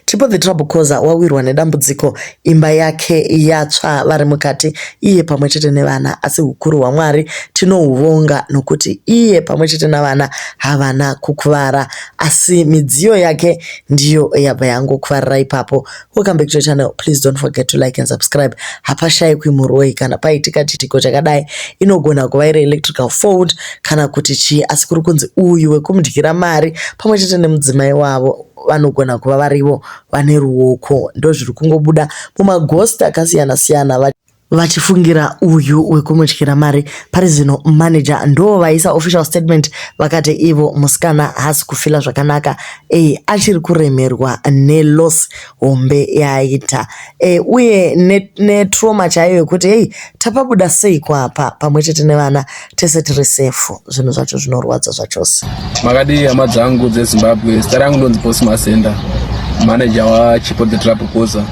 Chipo the trouble causer wawirwa nedambudziko imba yake yatsva vari mukati iye pamwe chete nevana asi hukuru hwaMwari tinohuvonga nokuti iye pamwe chete navana havana kukuvara asi midziyo yake ndiyo yabva yangokuvarira ipapo. Welcome back to your channel please don't forget to like and subscribe. Hapashaikwi muroyi kana paitika chiitiko chakadai inogona kuva iri electrical fault kana kuti chii asi kuri kunzi uyu wekumudyira mari pamwe chete nemudzimai wavo vanogona kuva varivo vane ruoko ndozviri kungobuda mumaghost akasiyana siyana vachifungira uyu wekumudyira mari pari zino manager ndo vaisa official statement vakati ivo musikana haasi kufila zvakanaka e, achiri kuremerwa neloss hombe yaaita e, uye netrauma ne chaiyo yekuti hei tapabuda sei kwapa pamwe chete nevana tese tiri safe zvinhu zvacho zvinorwadza zvachose makadii hama dzangu dzezimbabwe zita rangu ndonzi boss masenda manager wachipo the trap koza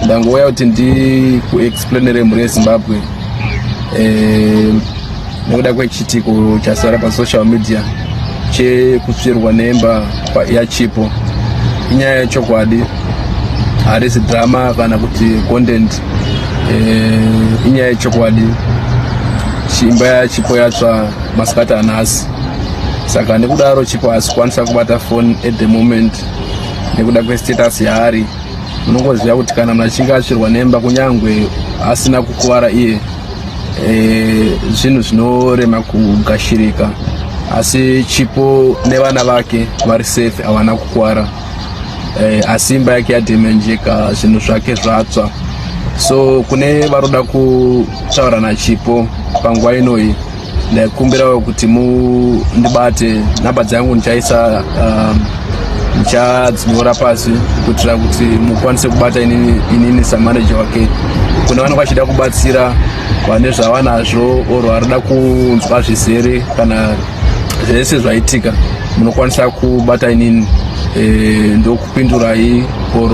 ndangouya kuti ndikuexplainere mhuri yezimbabwe eh, nekuda kwechiitiko chasara pasocial media chekutsvirwa nemba yachipo inyaya yechokwadi harisi drama kana kuti content eh, inyaya yechokwadi imba yachipo yatsva masikati anhasi saka nekudaro chipo hasikwanisa kubata foni at the moment nekuda kwestatus yaari munongoziva kuti kana munhu achinge asvirwa nemba kunyange asina kukuvara iye eh, zvinhu zvinorema kugashirika asi chipo nevana vake vari safe havana kukuvara eh, asi imba yake yadhemenjeka zvinhu zvake zvatsva so kune varoda kutaura nachipo panguva inoyi ndaikumbirawo kuti mundibate nhamba dzangu ndichaisa um, ndichadzinyora pasi kuitira kuti mukwanise kubata inini, inini samaneja wake kune vanenge vachida kubatsira vane zvavanazvo or varida kunzwa zvizere kana zvese zvaitika munokwanisa kubata inini e, ndokupindurai or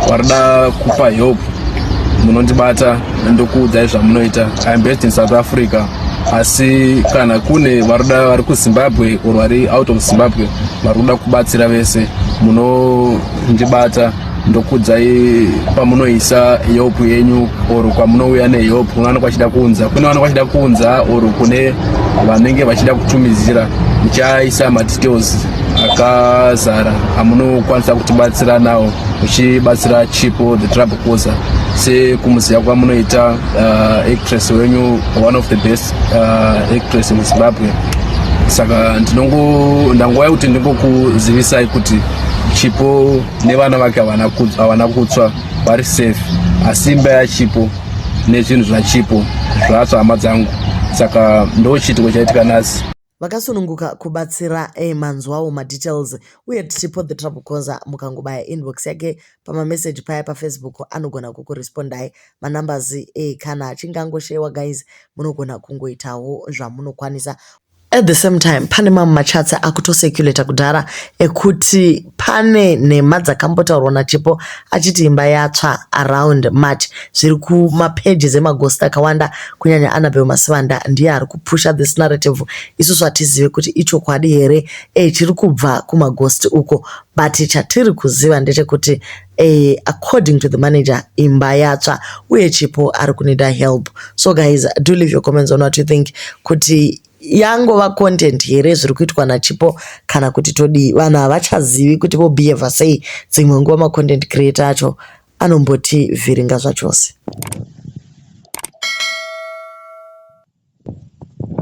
warida kupa help munondibata ndokuudzai zvamunoita iam based in south africa asi kana kune varuda vari kuzimbabwe or vari out of zimbabwe vari kuda kubatsira vese munondibata ndokudzai pamunoisa help yenyu or kwamunouya nehelp kunowana kwachida kunza kune wana kwachida kunza or kune vanenge vachida kutumidzira muchaisa madetails akazara amunokwanisa kutibatsira nawo uchibatsira chipo the trouble causer sekumuziva kwamunoita uh, actress wenyu one of the best uh, actress muzimbabwe saka ndinongo ndangova kuti ndingokuzivisai kuti chipo nevana vake havana kutsva vari safe asi imba yachipo nezvinhu zvachipo zvatsva hama dzangu saka ndochiitiko chaitika nhasi vakasununguka kubatsira e manzwawo madetails uye tichipo the trouble conser mukangobaya inbox yake pamameseji paya pafacebook anogona kukurespondai manumbers e kana achinge angoshewa guys munogona kungoitawo zvamunokwanisa At the same time pane mamwe machats akutocirculator kudhara ekuti pane nhema dzakambotaurwa naChipo achiti imba yatsva around March zviri kumapages emaghost akawanda kunyanya Annabel Masivanda ndiye ari kupusha this narrative isusu hatizive kuti ichokwadi here eh chiri kubva kumaghost uko but chatiri kuziva ndechekuti Eeh according to the manager imba yatsva uye Chipo ari kunida help so guys do leave your comments on what you think kuti yangova content here zviri kuitwa nachipo kana kuti todii vanhu havachazivi kuti vobehava sei dzimwe nguva macontent creator acho anomboti vhiringa zvachose